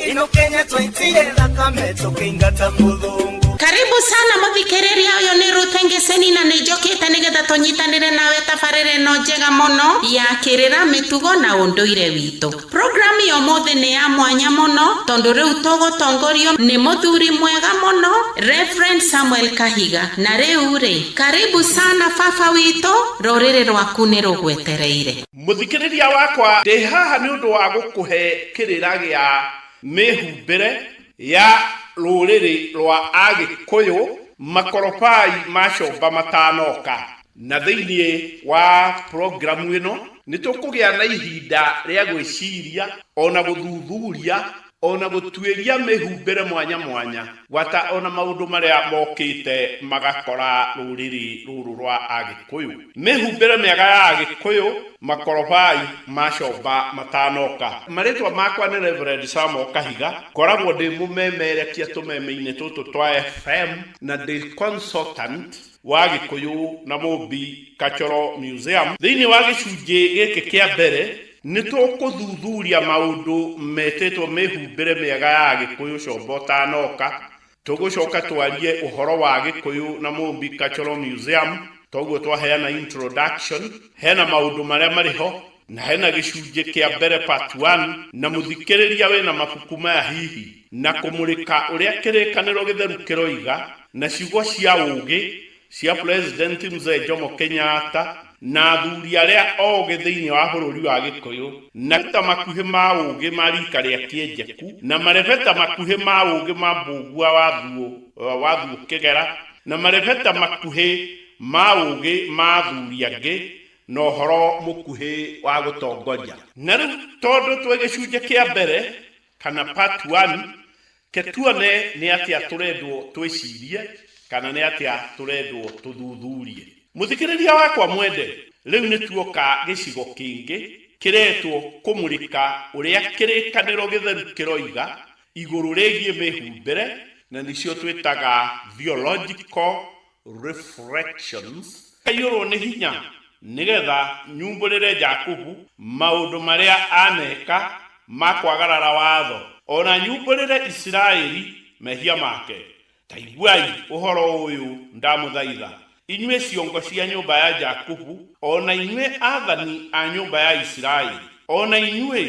ino kenya twaitire thakame tũkĩingata mũthũngũ karibu sana mũthikĩrĩria ũyũ nĩ rute ngĩceni na nĩ njũkĩte nĩgetha tũnyitanĩre nawe tabarĩra ĩno njega mũno ya kĩrĩra mĩtugo na ũndũire witũ programu ya ũmũthĩ nĩ ya mwanya mũno tondũ rĩu tũgũtongorio nĩ mũthuri mwega mũno Reverend Samuel Kahiga na rĩu rĩ karibu sana baba witũ rũrĩrĩ rwaku nĩ rũgwetereire Mũthikĩrĩria wakwa, ndĩ haha nĩ ũndũ wa gũkũhe kĩrĩra gĩa mĩhumbĩre ya rũrĩrĩ rwa Agĩkũyũ, makorobai ma comba matanoka. Na thĩinĩ wa programu ĩno, nĩ tũkũgĩa na ihinda rĩa gwĩciria o na gũthuthuria o na gũtuĩria mĩhumbĩre mwanya mwanya, gwata o na maũndũ marĩa mokĩte magakora rũrĩrĩ rũrũ rwa Agĩkũyũ. Mĩhumbĩre mĩaga ya Agĩkũyũ, Makoroboi ma Comba matanoka. Marĩtwa makwa nĩ Reverend Sam O. Kahiga, ngoragwo ndĩ mũmemerekia tũmeme-inĩ tũtũ twa FM na ndĩ consultant wa Gĩkũyũ na Mũmbi Cultural Museum thĩinĩ wa gĩcunjĩ gĩkĩ kĩa mbere. Nĩ tũkũthuthuria maũndũ metĩtwo mĩhumbĩre mĩega ya Agĩkũyũ Combo Ũtanooka. Tũgũcoka twarie ũhoro wa Gĩkũyũ na Mũmbi Cultural Museum, toguo twaheana introduction. Hena maũndũ marĩa marĩ ho, na hena gĩcunjĩ kĩa mbere part one, na mũthikĩrĩria wĩna mabuku maya hihi, na kũmũrĩka ũrĩa kĩrĩkanĩro gĩtheru kĩroiga, na ciugo cia ũũgĩ, cia President Mzee Jomo Kenyatta na athuri arĩa ogĩ thĩinĩ wa bũrũri wa Gĩkũyũ, marebeta makuhĩ ma ũgĩ ma rika rĩa Kĩenjeku, na marebeta makuhĩ ma ũgĩ ma Mbũngua wa Thuo wa Thuo Kĩgera, na marebeta makuhĩ ma ũgĩ ma athuri angĩ, na ũhoro mũkuhĩ wa gũtongoria. Na rĩu tondũ twĩ gĩcunjĩ kĩa mbere, kana part one, Reke tuone nĩ atĩa tũrendwo twĩcirie kana nĩ atĩa tũrendwo tũthuthurie. Mũthikĩrĩria wakwa mwende, rĩu nĩ tuoka gĩcigo kĩngĩ kĩretwo Kũmũrĩka Ũrĩa Kĩrĩkanĩro Gĩtheru Kĩroiga igũrũ rĩgiĩ mĩhumbĩre na nĩcio twĩtaga theological Reflections, Aiyũrũo nĩ hinya nĩgetha nyumbũrĩre Jakubu maũndũ marĩa aneka ma kwagarara watho, o na nyumbũrĩre Isiraeli mehia make. Ta iguai ũhoro ũyũ ndamũthaitha, inyuĩ ciongo cia nyũmba ya Jakubu, o na inyuĩ athani a nyũmba ya Isiraeli, o na inyuĩ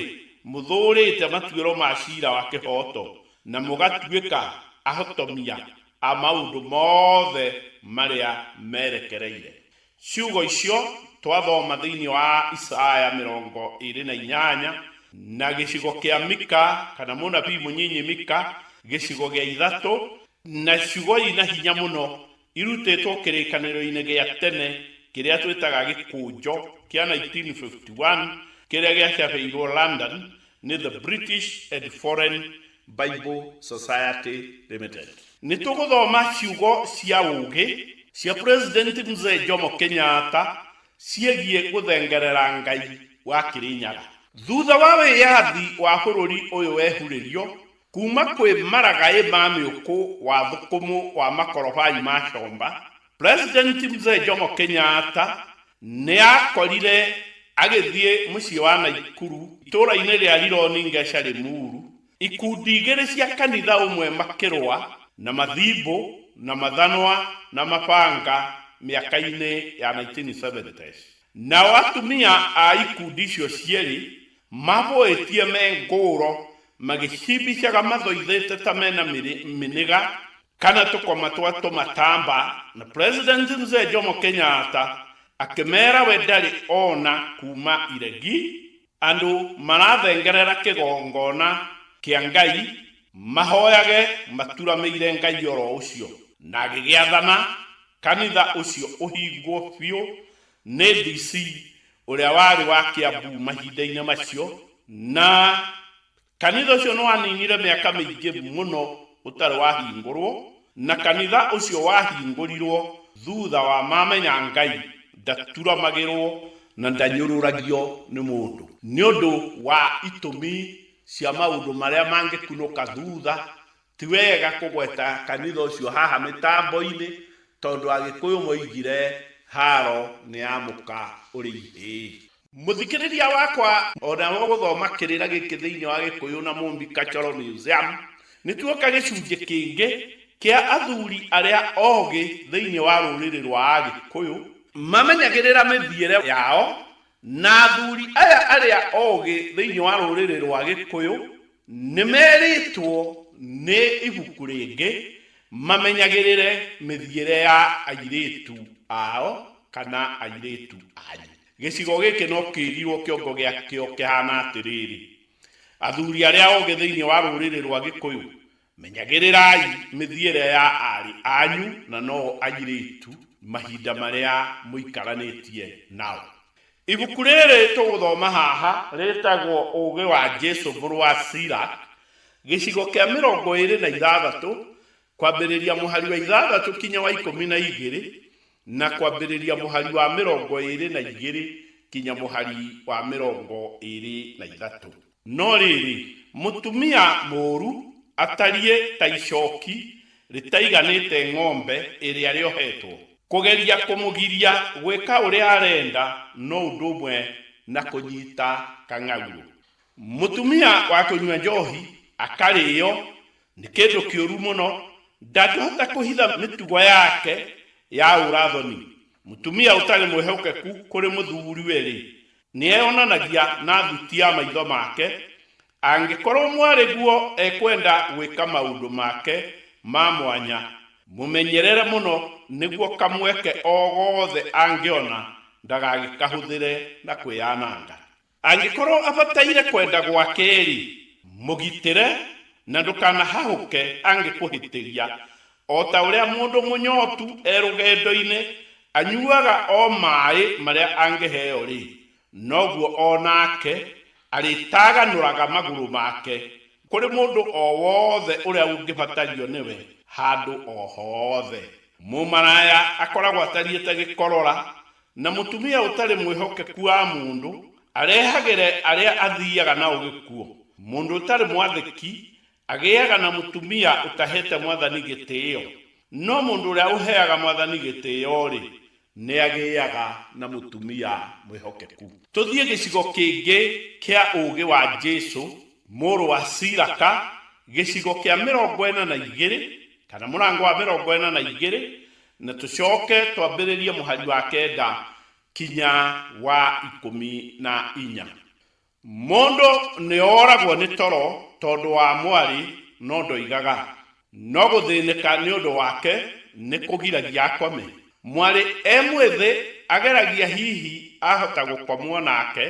mũthũũrĩte matuĩro ma cira wa kĩhooto, na mũgatuĩka ahotomia a maũndũ mothe marĩa merekereire. Ciugo icio twathoma thĩinĩ wa Isaya mĩrongo ĩĩrĩ na inyanya na gĩcigo kĩa Mika kana mũnabii mũnyinyi Mika gĩcigo gĩa ithatũ, na ciugo ina hinya mũno irutĩtwo kĩrĩkanĩro-inĩ gĩa tene kĩrĩa twĩtaga Gĩkũnjo kĩa 1951 kĩrĩa gĩacabĩirũo London nĩ The British and Foreign Bible Society Limited. Nĩ tũgũthoma ciugo cia ũũgĩ cia President Mzee Jomo Kenyatta ciĩgiĩ gũthengerera Ngai wa Kĩrĩnyaga. Thutha wa wĩyathi wa bũrũri ũyũ wehurĩrio kuuma kwĩ maragaĩ ma mĩũkũ wa thũkũmũ wa makorobai ma comba, President Mzee Jomo Kenyatta nĩ aakorire agĩthiĩ mũciĩ wa Naikuru, itũũra-inĩ rĩa Rironi Ngeca Limuru, ikundi igĩrĩ cia kanitha ũmwe makĩrũa na mathimbũ na mathanwa na mabanga mĩaka-inĩ ya 1970s. Nao atumia a ikundi icio cierĩ mabũĩtie me ngũũro magĩcimbicaga mathoithĩte ta mena mĩnĩga Kana tũkoma twa tũmatamba na President Mzee Jomo Kenyatta akĩmera we ndarĩ ona kuma iregi, andũ marathengerera kĩgongona kĩa Ngai mahoyage maturamĩire Ngai oro ũcio, na agĩgĩathana kanitha ũcio ũhingwo biũ nĩ DC ũrĩa warĩ wa Kiambu mahinda-inĩ macio, na Kanitha ũcio nĩ waninire mĩaka mĩingĩ mũno ũtarĩ wahingũrũo, na kanitha ũcio wahingũrirũo thutha wa mamenya Ngai ndaturamagĩrũo na ndanyũrũragio nĩ mũndũ. Nĩ ũndũ wa itũmi cia maũndũ marĩa mangĩkunũka thutha, Ti wega kũgweta kanitha ũcio haha mĩtambo-inĩ tondũ Agĩkũyũ moigire haro nĩ ya mũka ũrĩ ihĩĩ. Mũthikĩrĩria wakwa, o nawe ũgũthoma kĩrĩra gĩkĩ thĩinĩ wa Gĩkũyũ na Mũmbi Cultural Museum, nĩ tuoka gĩcunjĩ kĩngĩ kĩa athuri arĩa ogĩ thĩinĩ wa rũrĩrĩ rwa Agĩkũyũ, mamenyagĩrĩra mĩthiĩre yao Na athuri aya arĩa oogĩ thĩinĩ wa rũrĩrĩ rwa Gĩkũyũ nĩ merĩtwo nĩ ibuku rĩngĩ mamenyagĩrĩre mĩthiĩre ya airĩtu ao kana airĩtu anyu. Gĩcigo gĩkĩ no kĩrirwo kĩongo gĩakĩo kĩhana atĩrĩrĩ, Athuri arĩa oogĩ thĩinĩ wa rũrĩrĩ rwa Gĩkũyũ Menyagĩrĩrai mĩthiĩre ya aarĩ anyu na noo airĩtu mahinda marĩa mũikaranĩtie nao. Ibuku rĩrĩ tũgũthoma haha rĩtagwo Ũũgĩ wa Jesu Mũrũ wa Sirach, gĩcigo kĩa mĩrongo ĩĩrĩ na ithathatũ, kwambĩrĩria mũhari wa ithathatũ kinya wa ikũmi na igĩrĩ, na kwambĩrĩria mũhari wa mĩrongo ĩĩrĩ na igĩrĩ kinya mũhari wa mĩrongo ĩĩrĩ na ithatũ. No rĩĩrĩ, mũtumia mũũru atariĩ ta icooki rĩtaiganĩĩte ng'ombe ĩrĩa rĩoheetwo. Kũgeria kũmũgiria gwĩka ũrĩa areenda no ũndũ ũmwe na kũnyiita kang'aurũ. Mũtumia wa kũnyua njoohi akarĩĩo nĩ kĩndũ kĩũru mũno, ndangĩhota kũhitha mĩtugo yake ya ũũra-thoni. Mũtumia ũtarĩ mwĩhokeku kũrĩ mũthuuriwe-rĩ, nĩeyonanagia na thuti ya maitho make, angĩkorwo mwarĩguo ekwenda gwĩka maũndũ make ma mwanya, mũmenyerere mũno nĩguo kamweke o gothe angĩona ndagagĩkahũthĩre na kwĩyananga. Angĩkorwo abataire kwenda gwake-rĩ, mũgitĩre na ndũkanahahũke angĩkũhĩtĩria, O ta ũrĩa mũndũ mũnyootu e rũgendo-inĩ anyuuaga o maaĩ marĩa angĩheo-rĩ, noguo o naake arĩtaaganũraga magũrũ maake kũrĩ mũndũ o wothe ũrĩa ũngĩbatario nĩwe handũ o hoothe. Mũmaraaya akoragwo atariĩ ta gĩkorora, na mũtumia ũtarĩ mwĩhokeku wa mũndũ arehagĩre arĩa athiiaga nao gĩkuũ. Mũndũ ũtarĩ mwathĩki Agĩaga na mũtumia ũtaheete mwathani gĩtĩĩo, no mũndũ ũrĩa ũheaga mwathani gĩtĩĩo-rĩ, nĩagĩaga na mũtumia mwĩhokeku. Tũthiĩ gĩcigo kĩngĩ kĩa ũũgĩ wa Jesũ, mũrũ wa Silaka, gĩcigo kĩa mĩrongo ĩna na igĩrĩ, kana mũrango wa mĩrongo ĩna na igĩrĩ, na tũcooke twambĩrĩrie mũhari wa kenda kinya wa ikũmi na inya. Mũndũ nĩ oragwo nĩ toro tondũ wa mwarĩ no ndoigaga, no gũthĩnĩka nĩ ũndũ wake nĩ kũgiragia akome. Mwarĩ e mwĩthĩ ageragia hihi ahota gũkomwo nake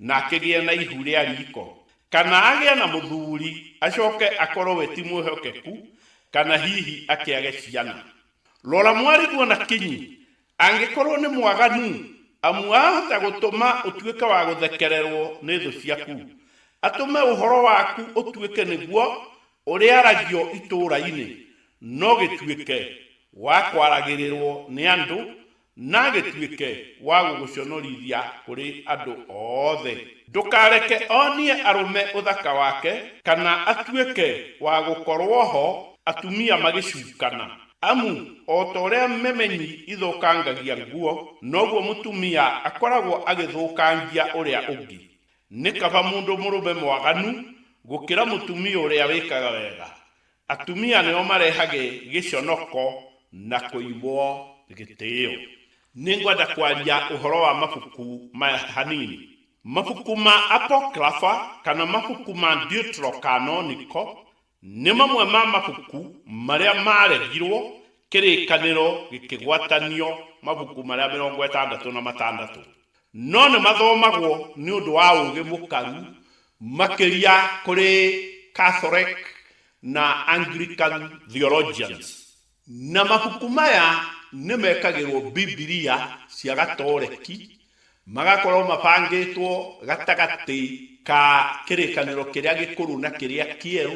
na akĩgĩa na ihu rĩa riko, kana agĩa na mũthuri acoke akorwo we ti mwĩhokeku kana hihi akĩage ciana. Rora mwariguo na kinyi Angĩkorũo nĩ mwaganu, amu ahota gũtũma ũtuĩke wa gũthekererũo nĩ thũ ciaku, atũme ũhoro waku ũtuĩke nĩguo ũrĩaragio itũũra-inĩ, no gĩtuĩke wa kwaragĩrĩrũo nĩ andũ, na gĩtuĩke wa gũgũconorithia kũrĩ andũ othe. Ndũkareke onie arũme ũthaka wake, kana atuĩke wa gũkorũo ho atumia magĩcukana. Amu o ta ũrĩa memenyi ithũkangagia nguo, noguo mũtumia akoragwo agĩthũkangia ũrĩa ũngĩ. Nĩ kaba mũndũ mũrũme mwaganu gũkĩra mũtumia ũrĩa wĩkaga wega. Atumia nĩo marehage gĩconoko na kũimwo gĩtĩo. Nĩ ngwenda kwaria ũhoro wa mabuku maya hanini. Mabuku ma Apocrypha, kana mabuku ma Deuterocanonical, Nĩ mamwe ma mabuku marĩa maaregirũo, Kĩrĩkanĩro gĩkĩgwatanio mabuku marĩa mĩrongo ĩtandatũ na matandatũ. No nĩ mathomagwo nĩ ũndũ wa ũũgĩ mũkaru makĩria kũrĩ Catholic na Anglican theologians. Na mabuku maya nĩ mekagĩrũo Bibilia cia Gatoreki, magakorũo mabangĩtwo gatagatĩ ka Kĩrĩkanĩro Kĩrĩa Gĩkũrũ na Kĩrĩa Kĩerũ,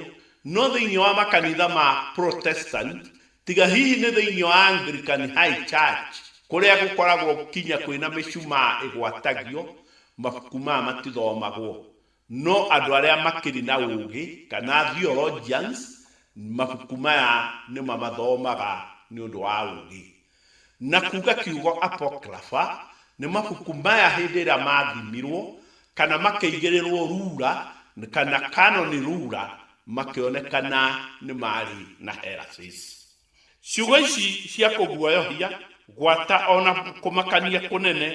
no thĩinĩ wa makanitha ma Protestant, tiga hihi nĩ thĩinĩ wa Anglican High Church, kũrĩa gũkoragwo nginya kwĩna mĩcumaa ĩgwatagio, mabuku maya matithomagwo. No andũ arĩa makĩrĩ na ũũgĩ, kana theologians, mabuku maya nĩ mamathomaga nĩ ũndũ wa ũũgĩ. Na kuuga kiugo apocrypha, nĩ mabuku maya hĩndĩ ĩrĩa maathimirwo, kana makĩigĩrĩrwo rura, kana canon rura, makĩonekana nĩ maarĩ na heresies. Ciugo ici cia kũguoyohia, gwata, o na kũmakania kũnene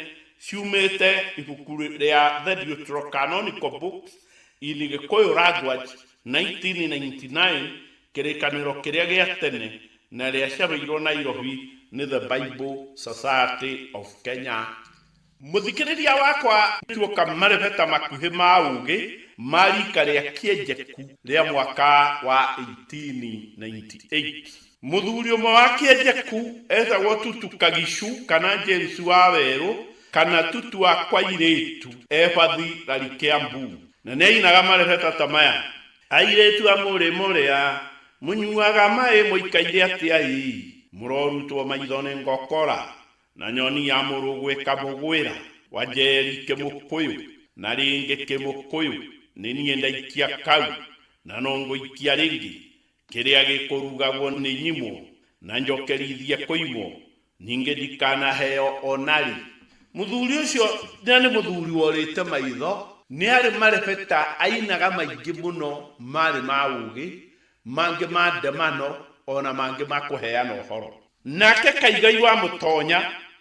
ciumĩte ibuku rĩa The Deuterocanonical Books in Gikuyu Language, 1999, Kĩrĩkanĩro Kĩrĩa gĩa Tene, na rĩacabĩirũo Nairobi nĩ The Bible Society of Kenya. Mũthikĩrĩria wakwa tuoka marebeta makuhĩ ma ũgĩ ma rika rĩa Kĩenjeku rĩa mwaka wa 1898. Mũthuri ũmwe wa Kĩenjeku etagwo Tutu Kagishu kana James wa Werũ kana Tutu wa Kwairĩtu Ebathi Rari Kĩambu. Na nĩainaga marebeta ta maya. Airĩtu a mũrĩ mũrĩa, mũnyuaga maĩ mũikaire atĩa ĩĩ, mũrorutwo maitho nĩ ngokora, Na nyoni ya mũrũgũ ĩkamũgwĩra. Wanjeri Kĩmũkũyũ, Na rĩngĩ Kĩmũkũyũ, nĩ niĩ ndaikia kau, na no ngũikia rĩngĩ, kĩrĩa gĩkũrugagwo nĩ nyimwo, na njokerithie kũimwo, ningĩ ndikanaheo o na rĩ. Mũthuri ũcio na nĩ mũthuri worĩte maitho. Nĩ arĩ marebeta ainaga maingĩ mũno marĩ ma ũũgĩ, mangĩ ma ndemano, o na mangĩ ma kũheana ũhoro. Nake Kaigai wa Mũtonya,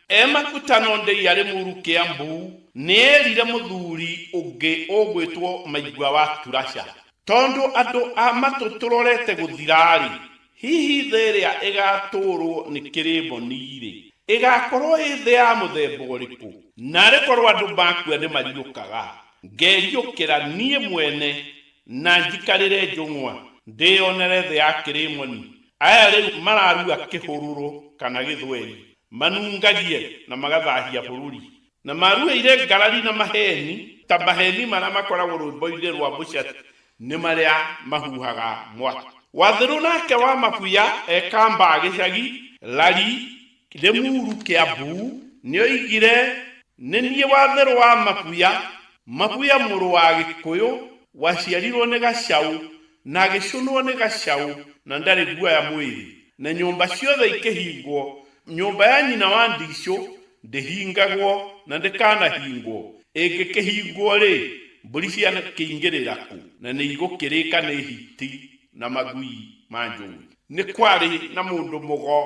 e Makutano Ndeia Rĩmuru Kĩambu, nĩerire mũthuri ũngĩ ũgwĩtwo Maigua wa Turasha. Tondũ andũ a matũ tũrorete gũthira-rĩ, hihi thĩ ĩrĩa ĩgatũũrwo nĩ Kĩrĩmoni-rĩ, ĩgakorwo ĩ thĩ ya mũthemba ũrĩkũ? Naarĩ korwo andũ makua nĩmariũkaga, ngeriũkĩra niĩ mwene na njikarĩre njũng'wa, ndĩyonere thĩ ya Kĩrĩmoni, Aya rĩu mararua kĩhũrũrũ kana gĩthweri, manungagie na magathahia bũrũri, na marueire ngarari na maheeni, ta maheeni marĩa makoragwo rwĩmbo-inĩ rwa mũcati, nĩ marĩa mahuhaga mwaki. Wathĩrũ nake wa mabuya ekambaa gĩcagi, Lari, Kĩrĩmuru kĩa Buu nĩoigire, Nĩ niĩ Watherũ wa Mabuya, Mabuya mũrũ wa Gĩkũyũ, waciarirwo nĩ gacaũ, na agĩcũnwo nĩ gacaũ, na ndarĩ guoya mwĩrĩ, na nyũmba ciothe ikĩhingwo, nyũmba ya nyina wa Ndicũ ndĩhingagwo na ndĩkanahingwo, ĩngĩkĩhingwo-rĩ, mbũri ciakĩingĩrĩra kũ? Na nĩigũkĩrĩka nĩ hiti na magui ma njũĩ. Nĩ kwarĩ na mũndũ mũgo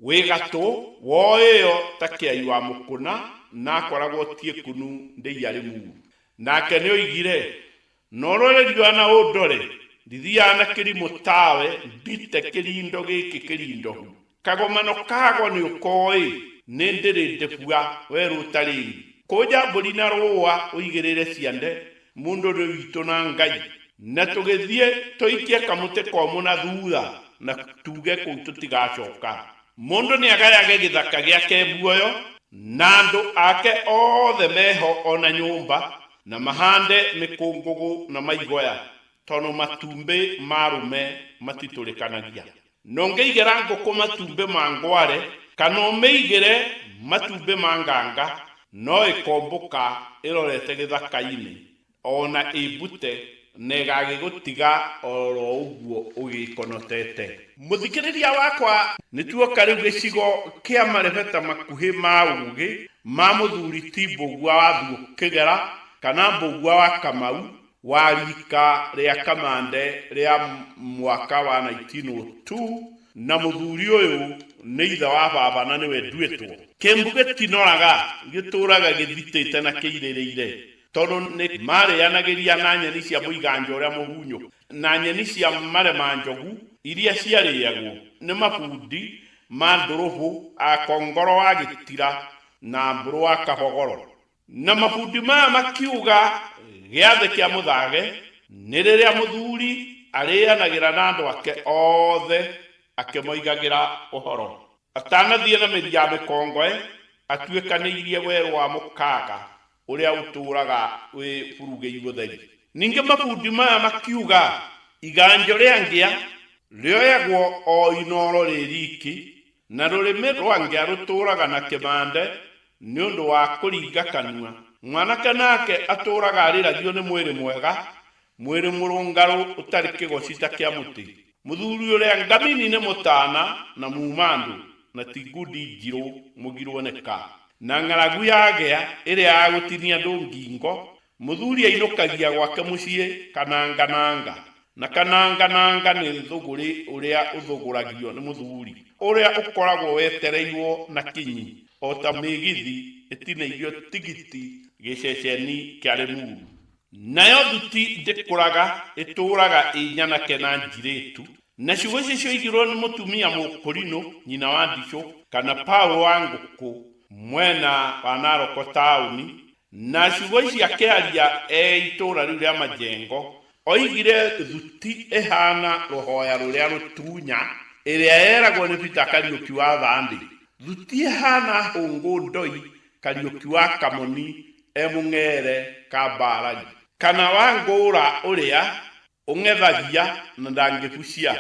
Wĩ gatũ, woĩo ta kĩai wa mũkũna, na akoragwo tiĩkũnu ndĩiarĩ mũru. Nake nĩoigire, Norore riũa na ũndore, ndithiaga na kĩrimũ tawe, ndite kĩrindo gĩkĩ kĩrindohu. Kagomano kago nĩũkoĩ, nĩndĩrĩ ndĩbua, werũ ũtarĩ ĩri. Kũnja mbũri na rũũa ũigĩrĩre ciande, Mũndũ nĩ witũ na Ngai. Na tũgĩthiĩ tũikie kamũtĩ komũ na thutha na tuge kũu tũtigacoka. Mũndũ nĩ agayage gĩthaka gĩake muoyo na andũ ake othe meho o na nyũmba na mahande mĩkũngũgũ na maigoya tondũ matumbĩ ma arũme matitũrĩkanagia. No ngĩigĩra ngũkũ matumbĩ ma ngware kana ũmĩigĩre matumbĩ ma nganga no ĩkombũka ĩrorete gĩthaka-inĩ o na ĩmbute na ĩgagĩgũtiga o ro ũguo ũgĩkonotete. Mũthikĩrĩria wakwa nĩ tuoka rĩu gĩcigo kĩa marebeta makuhĩ ma ũgĩ ma mũthuri ti Mbũgua wa Thuokĩgera kana Mbũgua wa Kamau wa riika rĩa kamande rĩa mwaka wa 1902, na mũthuri ũyũ nĩ ithe wa baba na nĩwe nduĩtwo. Kĩmbu gĩtinoraga, gĩtũũraga gĩthitĩte na kĩirĩrĩire, tondũ nĩ maarĩanagĩria na nyeni cia mũiganjo ũrĩa mũhunyũku, na nyeni cia maremanjogu iria ciarĩagwo nĩ mabundi ma ndũrũbũ a Kongoro wa Gĩtira na Mbũrũ wa Kabogoro. Na mabundi maya makiuga, Gĩathĩ kĩa mũthage nĩ rĩrĩa mũthuri arĩĩanagĩra na andũ ake othe akĩmoigagĩra ũhoro. Atanathiĩ na mĩri ya mĩkongoe atuĩkanĩirie werũ wa mũkaga ũrĩa ũtũũraga wĩ burugĩi gũtheri. Ningĩ mabundi maya makiuga, Iganjo rĩa ngĩa rĩoyagwo o inooro rĩ riiki, Na rũrĩmĩ rwange arũtũũraga na kĩmande nĩ ũndũ wa kũringa kanua. Mwanake nake atũũraga arĩragio nĩ mwĩrĩ mwega, mwĩrĩ mũrũngarũ ũtarĩ kĩgoci ta kĩa mũtĩ. Mũthuri ũrĩa ngamini nĩ mũtaana na muuma-andũ, na ti ngundi njirũ mũgirwo nĩ ka. Na ng'aragu yagĩa ĩrĩa ya gũtinia andũ ngingo, Mũthuri ainũkagia gwake mũciĩ kananga nanga, na kananga nanga nĩ thũgũrĩ ũrĩa ũthũgũragio nĩ mũthuri, ũrĩa ũkoragwo wetereirwo na kinyi o ta mĩgithi ĩtinĩirio tigiti gĩceceni kĩa Limuru. Nayo thuti ndĩkũraga, ĩtũũraga ĩ nyanake na njirĩtu, na ciugo ciacio igĩrwo nĩ mũtumia mũkũrinũ, nyina wa ndicũ, kana Paul wa Ngũkũ, mwena wa Naroko taũni, Na ciugo ici akĩaria e itũũra rĩu rĩa majengo, oigire thuti ĩhaana rũhooya rũrĩa rũtunya, ĩrĩa yeragwo nĩ Peter Kariũki wa Thandi, thuti ĩhaana hũngũ ndoi Kariũki wa Kamoni e mũng'eere kambaarari. Kana wa ngũũra ũrĩa ũng'ethagia na ndangĩbucia.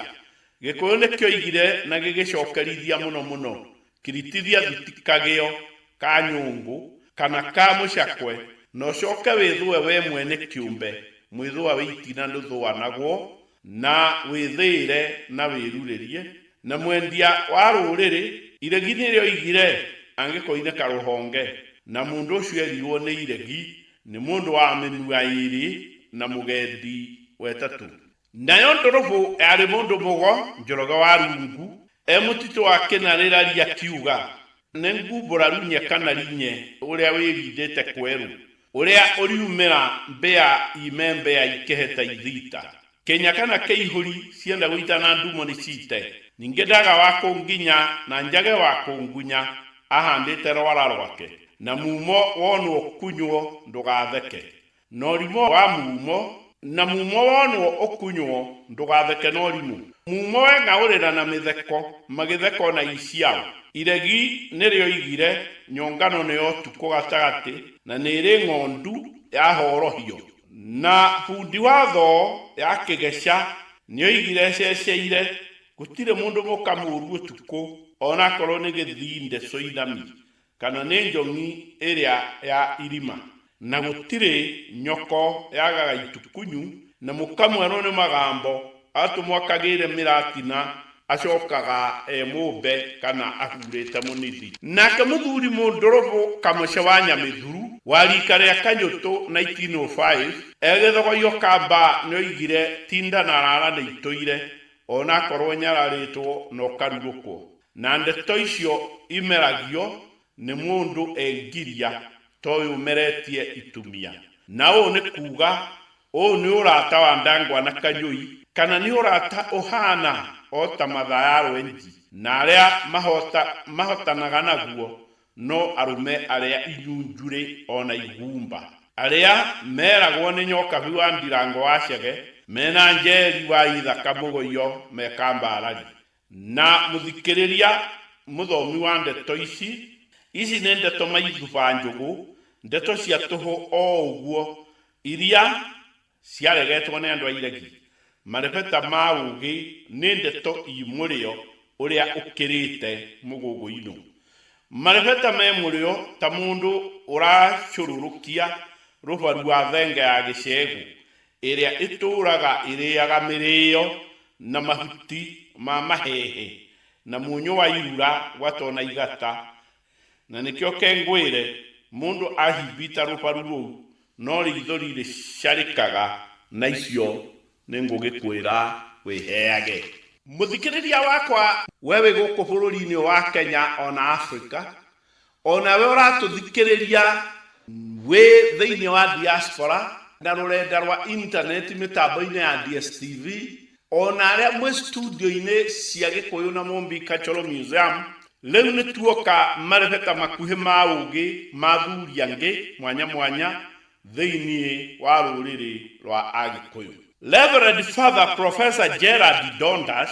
Gĩkũyũ nĩkĩoigire na gĩgĩcokerithia mũno mũno Kiritithia thuti kagĩo ka nyũngũ kana ka mũcakwe, na ũcoke wĩthũe wee mwene kĩũmbe mwĩthũa wĩ itina ndũthũanagwo, na wĩthĩĩre na wĩrurĩrie, na mwendia wa rũũrĩrĩ, iregi nĩrĩo oigire, angĩkorwo nĩ karũhonge, na mũndũ ũcio erirwo nĩ iregi, nĩ mũndũ wa mĩnua ĩĩrĩ na mũgendi wa ĩtatũ. Nayo ndũrũbũ yarĩ mũndũ mũgo njoroge wa rungu e mũtitũ wa kĩnarĩrari akiuga, Nĩ ngumbũraru nye kana rinye ũrĩa wĩrindĩte kwerũ, ũrĩa ũriumĩra mbĩa ime mbĩa ikehe ta ithiita. Kĩnya kana kĩihũri cienda gũita na ndumo nĩ ciite, ningĩ ndaga wa kũnginya na njage wa kũngunya ahandĩte rwara rwake, na mumo wonwo kunywo ndũgatheke. Norimũ wa mumo, na mumo wonwo ũkunywo, ndũgatheke norimũ. Mumo we ng'aũrĩra na mĩtheko, magĩtheka o na Isiaũ. Iregi nĩrĩoigire, nyongano nĩ o tukũ gatagatĩ, na nĩrĩ ng'ondu ya horohio. Na bundi wa thoo ya kĩgeca nĩoigire ececeire, gũtirĩ mũndũ mũka mũũru ũtukũ, o na akorwo nĩ gĩthinde coinami. kana nĩ njong'i ĩrĩa ya irima, na gũtirĩ nyoko yagaga itukunyu, na mũkamwerwo nĩ magambo, atũmwo akagĩĩre mĩratina, acokaga e mũmbe kana ahuurĩte mũnithi. Nake mũthuri mũndũrũbũ kamũce wa Nyamĩthuru, wa riika rĩa Kanyũtũ 1905, e gĩthogoyo ka Mbaa nĩoigire, Tinda na Rara nĩitũire, o na akorwo nyararĩtwo na ũkarurũkwo. Na ndeto icio imeragio nĩ mũndũ e ngiria ta ũyũ ũmeretie itumia. Na ũũ nĩ kuuga, ũũ nĩ ũrata wa Ndangwa na Kanyũi, kana nĩ ũrata ũhaana o ta mathaya rwenji, na arĩa mahoota mahotanaga naguo no arũme arĩa inyunjurĩ o na igumba, arĩa meragwo nĩ Nyokabi wa Ndirango wa Chege, me na Njeri wa Ithaka Mũgoio me kambarari, Na mũthikĩrĩria mũthomi wa ndeto ici, ici nĩ ndeto maithuba njũgũ, ndeto cia tũhũ o ũguo, iria ciaregetwo nĩ andũ a iregi. Marebeta ma ũũgĩ nĩ ndeto ii mũrĩo ũrĩa ũkĩrĩte mũgũgũinũ. Marebeta me mũrĩo ta mũndũ ũracũrũrũkia rũbaru wa thenge ya gĩcegũ, Ĩrĩa ĩtũũraga ĩrĩĩaga mĩrĩĩo na mahuti ma maheehe, na mũnyũ wa irura wa to na igata. Na nĩkĩo ke ngwĩre, mũndũ aahimbiita rũbaru rũu, no riitho rirĩcarĩkaga na icio, nĩngũgĩkwĩra wĩheage. Mũthikĩrĩria wakwa, we wĩ gũkũ bũrũri-inĩ ũyũ wa Kenya o na Africa, O nawe ũratũthikĩrĩria wĩ thĩinĩ wa diaspora na rũrenda rwa intaneti mĩtambo-inĩ ya DSTV, o na arĩa mwĩ studio-inĩ cia Gĩkũyũ na Mũmbi Cultural Museum, rĩu nĩ tuoka marebeta makuhĩ ma ũũgĩ ma athuri angĩ mwanya mwanya thĩinĩ wa rũrĩrĩ rwa Agĩkũyũ. Reverend Father Professor Gerald Dondas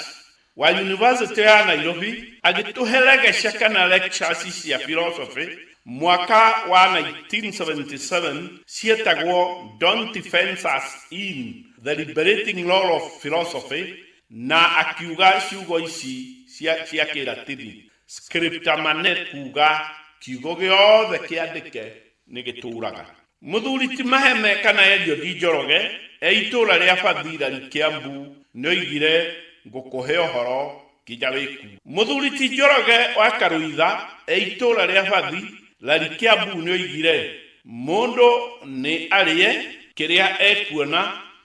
wa Yunivasĩtĩ ya Nairobi agĩtũhe legesha kana lectures cia philosophy mwaka wa 1977 cietagwo Don't Defense Us in The Liberating Role of Philosophy na akiuga ciugo ici cia Kĩlatini, Scripta manet, kuuga, Kiugo gĩothe kĩandĩke nĩ gĩtũũraga. Mũthuri ti Maheme kana Eliodi Njoroge e itũũra rĩa Bathilali Kiambu nĩoigire Ngũkũhe ũhoro nginya wĩkue. Mũthuri ti Njoroge wa Karũitha e itũũra rĩa Bathi lali Kiambu nĩoigire Mũndũ nĩ arĩe kĩrĩa ekuona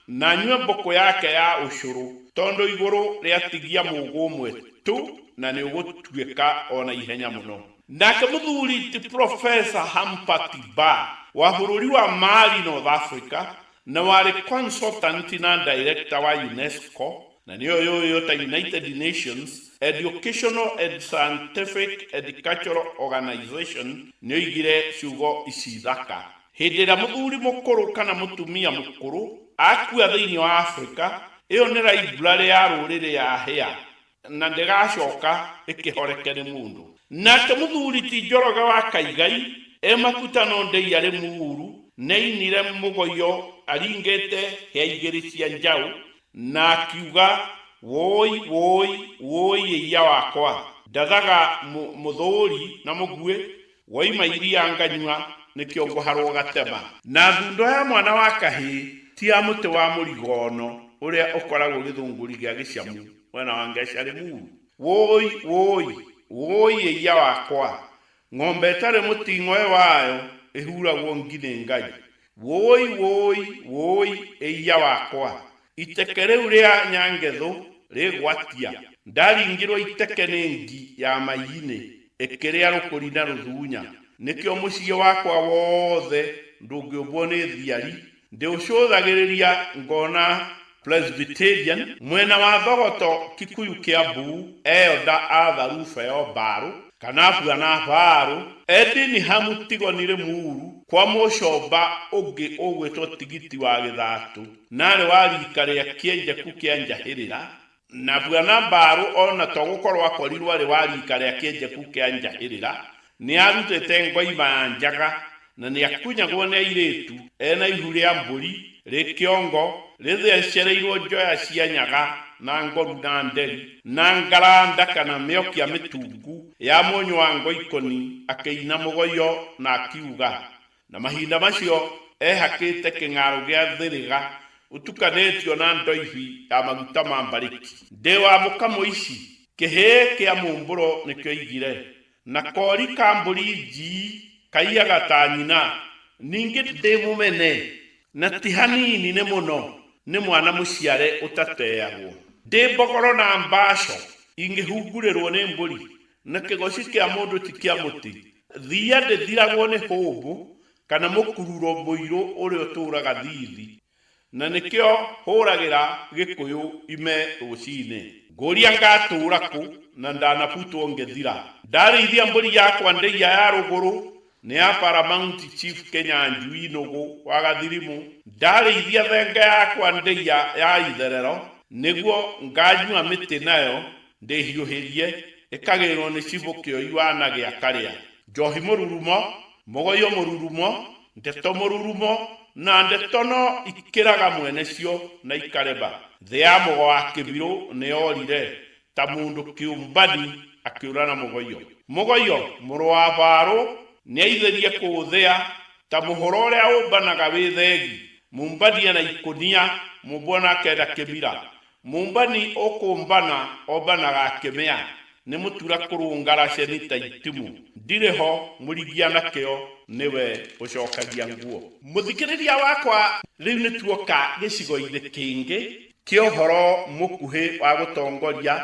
na anyue mbũkũ yake ya ũcũrũ tondũ igũrũ rĩatigia mũgũ ũmwe tu na nĩũgũtuĩka o na ihenya mũno. Ndake muthuri ti Profesa Hampert Barr, wa vururi wa Mali, North Africa, na wari consultant na director wa UNESCO, na niyo yuuyo ta United Nations Educational and Scientific and Cultural Organization, nioigire ciugo ici thaka, Hindi iria muthuri mukuru kana mutumia mukuru akua thiini wa Africa, iyo ni library ya ruriri yahia. Na ndĩgacooka ĩkĩhoreke nĩ mũndũ. Nake mũthuuri ti Njoroge wa Kaigai, e makuta no Ndei arĩ mũũru, nĩainire mũgoyo aringĩte hĩa igĩrĩ cia njaũ, na akiuga, Wũũi, wũũi, wũũi ĩiya wakwa! Ndathaga mũthũũri na mũguĩ, Woima iria nganyua, nĩkĩo ngũharwo gatema. Na thundo ya mwana wa kahĩĩ ti ya mũtĩ wa mũrigono ũrĩa ũkoragwo gĩthũngũri gĩa gĩcamu mwena wa Ngecarĩ Muru? Wũũi, wũũi, wũũi ĩiya wakwa, ng'ombe ĩtarĩ mũting'oe wayo ĩhuragwo ngi nĩ Ngai, Wũũi, wũũi, wũũi, ĩiya wakwa! Iteke rĩu rĩa Nyangethũ rĩgwatia. Ndaringirwo iteke nĩ ngi ya maiinĩ ĩkĩrĩa rũkũri na rũthuunya. Nĩkĩo mũciĩ wakwa wothe ndũngĩũmbwo nĩ thiari. Ndĩũcũthagĩrĩria ngona Presbyterian, mwena wa Thogoto, Kikuyu Kiambu, Elder Arthur Rufeo Mbarũ, Kanabua na Barũ, Eddie Nihamu Tigoni Limuru, kwa Mũcomba ũngĩ ũgwĩtwo Tigiti wa Gĩthatũ, na arĩ wa riika rĩa Kĩenjeku kĩa Njahĩrĩra, na Bwana Mbarũ o na to gũkorwo akorirwo arĩ wa riika rĩa Kĩenjeku kĩa Njahĩrĩra, Nĩarutĩte ngoima ya njaga, na nĩakunyagwo nĩ airĩtu, e na ihu rĩa mbũri, rĩ kĩongo, rĩthecereirwo njoya cia nyaga, na ngoru, na nderi, na ngaraa ndaka, na mĩokia mĩtungu, ya mũnyũ wa ngoikoni, akĩina mũgoio, na akiuga. Na mahinda macio ehakĩte kĩng'aarũ gĩa thĩrĩga, ũtukanĩtio na ndoibi ya maguta ma mbarĩki. Ndĩ wa mũka mũici, kĩhĩĩ kĩa mũmbũro nĩkĩoigire, Na kori ka mbũri nji kaiyaga ta nyina, ningĩ. Ndĩ mũmene, na ti hanini, nĩ mũno, nĩ mwana mũciare ũtateagwo. Ndĩ mbogoro na mbaco ingĩhungurĩrwo nĩ mbũri, na kĩgoci kĩa mũndũ ti kĩa mũtĩ. Thiia ndĩthiragwo nĩ hũmbũ, kana mũkururo mũirũ ũrĩa ũtũũraga thiithi. Na nĩkĩo hũragĩra Gĩkũyũ ime rũcinĩ. Ngũria ngatũũra kũ na ndanabutwo ngethira. Ndarĩithia mbũri yakwa ndĩiya ya rũgũrũ nĩ ya Paramount Chief Kenya Njui Nũgũ wa Gathirimũ. Ndarĩithia thenge yakwa ndĩiya ya itherero nĩguo nganyua mĩtĩ nayo. Ndĩhiũhĩrie, ĩkagĩrĩrwo nĩ cibo kĩoiwa na gĩa karĩa. Njohi mũrurumo, mũgoyo mũrurumo, ndeto mũrurumo na ndeto no ikĩraga mwene cio na ikareba. Thĩ ya mũgo wa kĩbirũ nĩ yorire, ta mũndũ kĩũmbani akĩũra na mũgoyo. Mũgoyo, mũrũ wa Farũ, nĩ aithĩrie kũũthĩa, ta mũhũra ũrĩa ũmbanaga wĩ thegi, mũmbania na ikũnia, mũmbua na akenda kĩmira. Mũmbani ũkũmbana ombanaga akĩmĩa, nĩ mũtura kũrũngara ceni ta itimũ, ndirĩ ho, mũrigia na kĩo nĩ we ũcokagia nguo. Mũthikĩrĩria wakwa, rĩu nĩ tuoka gĩcigo-inĩ kĩngĩ kĩa ũhoro mũkuhĩ wa gũtongoria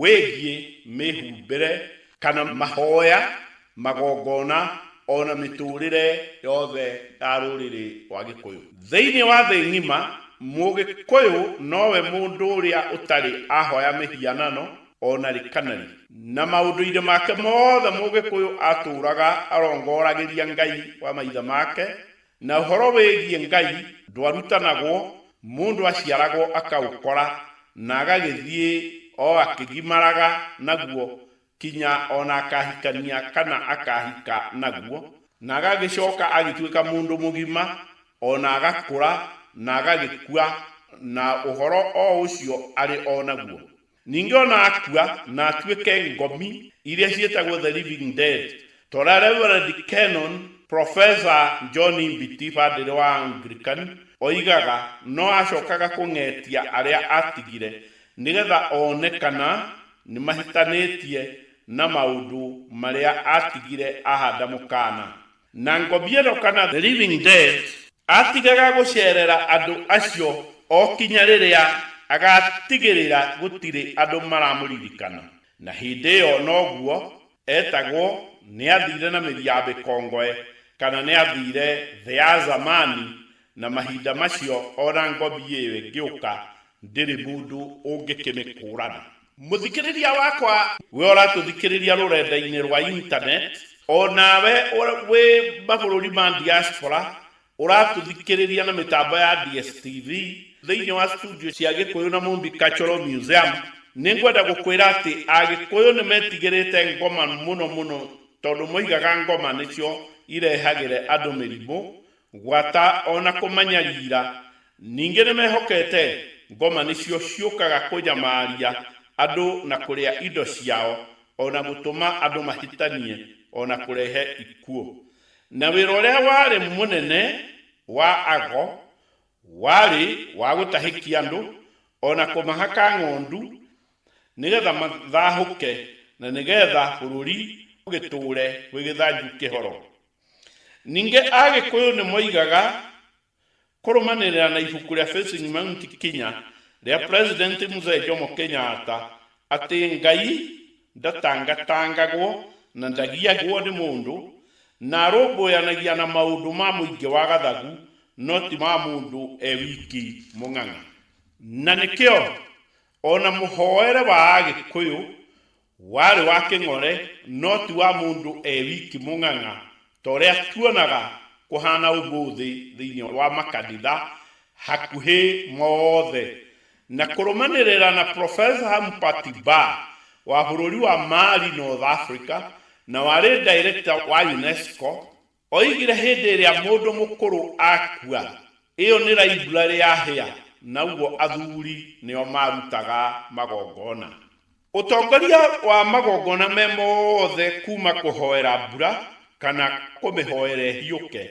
wĩgiĩ mĩhumbĩre kana mahoya magongona, o na mĩtũũrĩre yothe ya rũrĩrĩ rwa Gĩkũyũ. Thĩinĩ wa thĩ ng'ima, Mũgĩkũyũ nowe mũndũ ũrĩa ũtarĩ ahoya mĩhianano o na rĩ kana rĩ. Na maũndũ-inĩ make mothe Mũgĩkũyũ atũũraga arongoragĩria Ngai wa maithe make, na ũhoro wĩgiĩ Ngai ndwarutanagwo, mũndũ aciaragwo akaũkora na agagĩthiĩ o akĩgimaraga naguo Kinya o na akahikania kana akahika naguo. Na agagĩcoka agĩtuĩka mũndũ mũgima, o na agakũra, na agagĩkua, na ũhoro o ũcio arĩ o naguo. Ningĩ o na akua, na atuĩke ngomi, iria ciĩtagwo the living dead, ta ũrĩa Reverend Canon Professor John Mbiti, Padre wa Anglican, oigaga, no acokaga kũng'etia arĩa atigire, nĩgetha one kana Nĩ mahitanĩtie na maũndũ marĩa atigire ahanda mũkaana. Na Ngobiero kana The Living Dead atigaga gũceerera andũ acio o kinya rĩrĩa agaatigĩrĩra gũtirĩ andũ maramũririkana. Na hĩndĩ ĩyo noguo Etagwo, nĩathiire na mĩri ya mĩkongoe, kana nĩathiire thĩ ya Zamani, na mahinda macio o na ngobi ĩyo ĩngĩũka, ndĩrĩ mũndũ ũngĩkĩmĩkũũrana. Mũthikĩrĩria wakwa, wee ũratũthikĩrĩria rũrenda-inĩ rwa internet, o nawe wĩ mabũrũri ma diaspora, Ũratũthikĩrĩria na mĩtambo ya DSTV thĩinĩ wa studio cia Gĩkũyũ na Mũmbi Cultural Museum, nĩ ngwenda gũkwĩra atĩ Agĩkũyũ nĩ metigĩrĩte ngoma mũno mũno tondũ moigaga ngoma nĩcio irehagĩre andũ mĩrimũ, gwata o na kũmanyariira. Ningĩ nĩ mehokete ngoma nĩcio ciũkaga kũnyamaria andũ na kũrĩa indo ciao o na gũtũma andũ mahĩtanie o na kũrehe ikuũ. Na wĩra ũrĩa warĩ mũnene wa ago warĩ wa gũtahĩkia andũ, o na kũmahaka ng'ondu, nĩ getha mathahũke, na nĩ getha bũrũri ũgĩtũũre wĩ gĩthanju kĩhoro. Ningĩ Agĩkũyũ nĩ moigaga Kũrũmanĩrĩra na ibuku rĩa Facing Mount Kinya rĩa President Mzee Jomo Kenyatta atĩ Ngai ndatangatangagwo na ndagiagwo nĩ mũndũ, na arũmbũyanagia na maũndũ ma mũingĩ wa gathagu no ti ma mũndũ e wiki mũng'ang'a. Na nĩkĩo o na mũhoere wa Agĩkũyũ Warĩ wa kĩng'ore, no ti wa mũndũ e wiki mũng'ang'a ta ũrĩa tuonaga kũhaana ũmũthĩ thĩinĩ wa makanitha hakuhĩ mothe. Na kũrũmanĩrĩra na Profesa Hampati Barr wa bũrũri wa Mali, North Africa, na warĩ Director wa UNESCO, Oigire hĩndĩ ĩrĩa mũndũ mũkũrũ akua, ĩyo nĩ raiburarĩ ya hĩa, naguo athuri nĩo maarutaga magongona. Ũtongoria wa magongona me mothe kuuma kũhoera mbura kana kũmĩhoera ĩhiũke.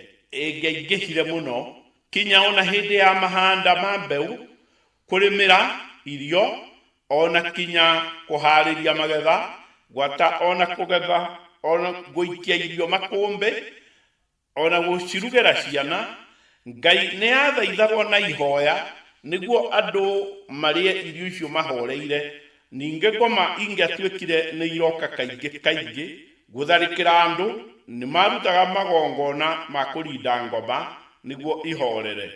Ĩngĩaingĩhire mũno, kinya o na hĩndĩ ya mahanda ma mbeũ, kũrĩmĩra irio o na kinya kũharĩria magetha, gwata o na kũgetha, o na gũikia irio makũmbĩ, o na gũcirugĩra ciana. Ngai nĩ aathaithagwo na ihoya nĩguo andũ marĩe irio icio mahoreire. Ningĩ ngoma ingĩatuĩkire nĩ iroka kaingĩ kaingĩ gũtharĩkĩra andũ, nĩ maarutaga magongona ma kũrinda ngoma nĩguo ihorere.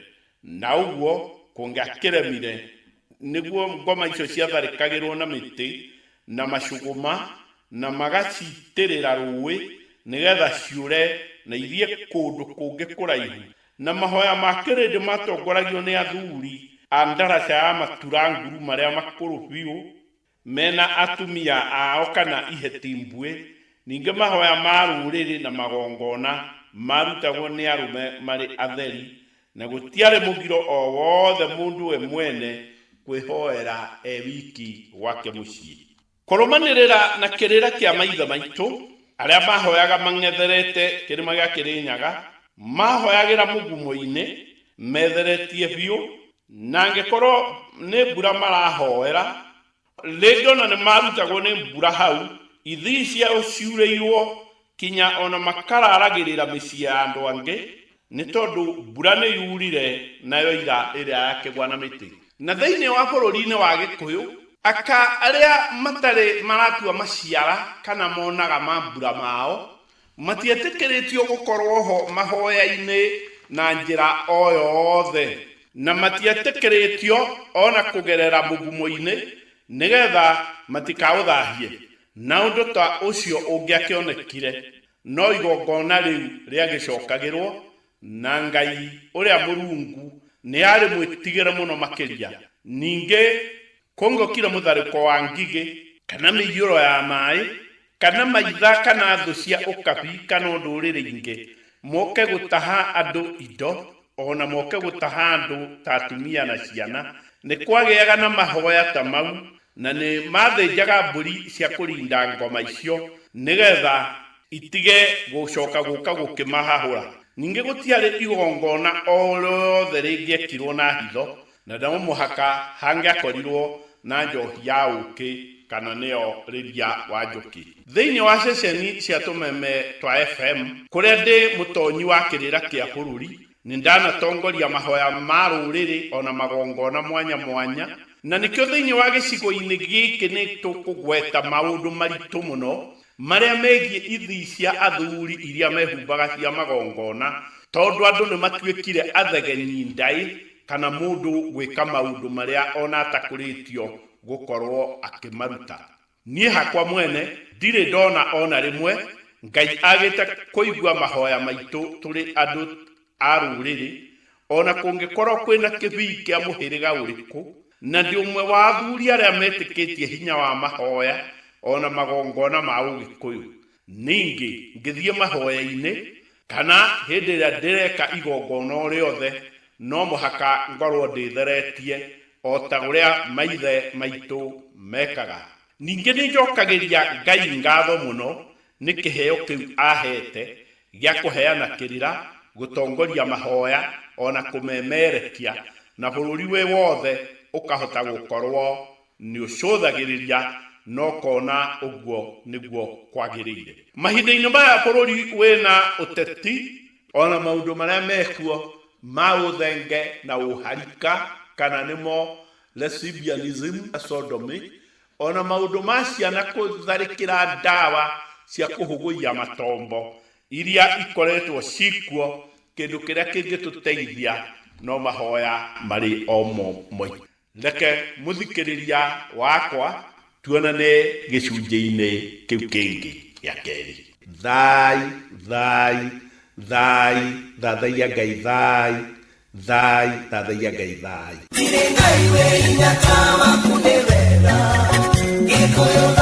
Na ũguo kũngĩakĩremire, nĩguo ngoma icio ciatharĩkagĩrũo na mĩtĩ na macũgũma, na magaciitĩrĩra rũũĩ nĩgetha ciũre na ithiĩ kũndũ kũngĩ kũraihu, na mahoya ma kĩrĩndĩ matongoragio nĩ athuri a ndaraca ya matura nguru marĩa makũrũ biũ, mena atumia ao kana iheti mbuĩ, ningĩ mahoya ma rũũrĩrĩ na magongona maarutagwo nĩ arũme marĩ atheri, na gũtiarĩ mũgiro o wothe mũndũ we mwene kwĩhoera e wiki gwake mũciĩ. Kũrũmanĩrĩra na kĩrĩra kĩa maithe maitũ, arĩa maahoyaga mang'etherete Kĩrĩma gĩa Kĩrĩnyaga, maahoyagĩra mũgumo-inĩ metheretie biũ, Na angĩkorwo nĩ mbura marahoera, rĩngĩ o na nĩmarutagwo nĩ mbura hau, ithii ciao ciurĩirwo, kinya o na makaraaragĩrĩra mĩciĩ ya andũ angĩ, nĩ tondũ mbura nĩyurire, nayo ira ĩrĩa ya kĩgwa na mĩtĩ. Na thĩinĩ wa bũrũri-inĩ wa Gĩkũyũ, aka arĩa matarĩ maratua maciara kana monaga mambura mao, Matietĩkĩrĩtio gũkorũo ho mahoya-inĩ na njĩra o yothe. Na matietĩkĩrĩtio o na kũgerera mũgumo-inĩ nĩgetha matikaũthahie. Na ũndũ ta ũcio ũngĩakĩonekire, no igongona rĩu rĩagĩcokagĩrũo, na Ngai ũrĩa mũrungu nĩ arĩ mwĩtigĩre mũno makĩria. Ningĩ. Kũngĩokire mũtharĩko wa ngigĩ, kana mĩiyũro ya maaĩ, kana maitha, kana thũ cia ũkabi, kana o ndũrĩrĩ ingĩ, moke gũtaha andũ indo, o na moke gũtaha andũ ta atumia na ciana, nĩ kwagĩaga na mahoya ta mau, na nĩ maathĩnjaga mbũri cia kũrinda ngoma icio, nĩgetha itige gũcoka gũka gũkĩmahahũra. Ningĩ gũtiarĩ igongona o rĩothe rĩngĩekirwo na hitho, Na no mũhaka hangĩakorirũo na njohi ya ũũkĩ kana nĩyo rĩria wa njũkĩ. Thĩinĩ wa ceceni cia tũmeme twa FM. Kũrĩa ndĩ mũtonyi wa kĩrĩra kĩa bũrũri, nĩ ndanatongoria mahoya ma rũrĩrĩ o na magongona mwanya mwanya, na nĩkĩo thĩinĩ wa gĩcigo-inĩ gĩkĩ nĩ tũkũgweta maũndũ maritũ mũno marĩa megiĩ ithii cia athuri iria mehumbaga cia magongona tondũ andũ nĩ matuĩkire athegenyi ndaĩ kana mũndũ gwĩka maũndũ marĩa o na atakũrĩtio gũkorũo akĩmaruta. Niĩ hakwa mwene ndirĩ ndona o na rĩmwe Ngai agĩte kũigua mahoya maitũ tũrĩ andũ a rũrĩrĩ, o na kũngĩkorũo kwĩ na kĩbii kĩa mũhĩrĩga ũrĩkũ, na ndĩ ũmwe wa athuri arĩa metĩkĩtie hinya wa mahoya o na magongona ma Ũgĩkũyũ. Ningĩ ngĩthiĩ mahoya-inĩ, Kana hĩndĩ ĩrĩa ndĩreka igongona o rĩothe, no mũhaka ngorũo ndĩtheretie o ta ũrĩa maithe maitũ mekaga. Ningĩ nĩ njokagĩria Ngai ngatho mũno nĩ kĩheo kĩu aaheete gĩa kũheana kĩrĩra, gũtongoria mahoya, o na kũmemerekia, na bũrũri wĩ wothe ũkahota gũkorũo Nĩũcũthagĩrĩria na ũkona ũguo nĩguo kwagĩrĩire. Mahinda-inĩ maya bũrũri wĩna ũteti, o na maũndũ marĩa mekuo ma ũthenge na ũharika, kana nĩmo lesbianism na sodomy, o na maũndũ ma ciana kũtharĩkĩra ndawa cia kũhũgũiya matombo iria ikoretwo cikuo, kĩndũ kĩrĩa kĩngĩtũteithia no mahoya marĩ o mo maitũ. Reke mũthikĩrĩria wakwa tuonane gĩcunjĩ-inĩ kĩu kĩngĩ gĩa kerĩ. Thaai, thaai, thaai, thathaiya Ngai thaai, thaai, thathaiya Ngai thaai. Thirĩ Ngai wĩ hinya ta waku nĩ wega, Gĩkũyũ thaai.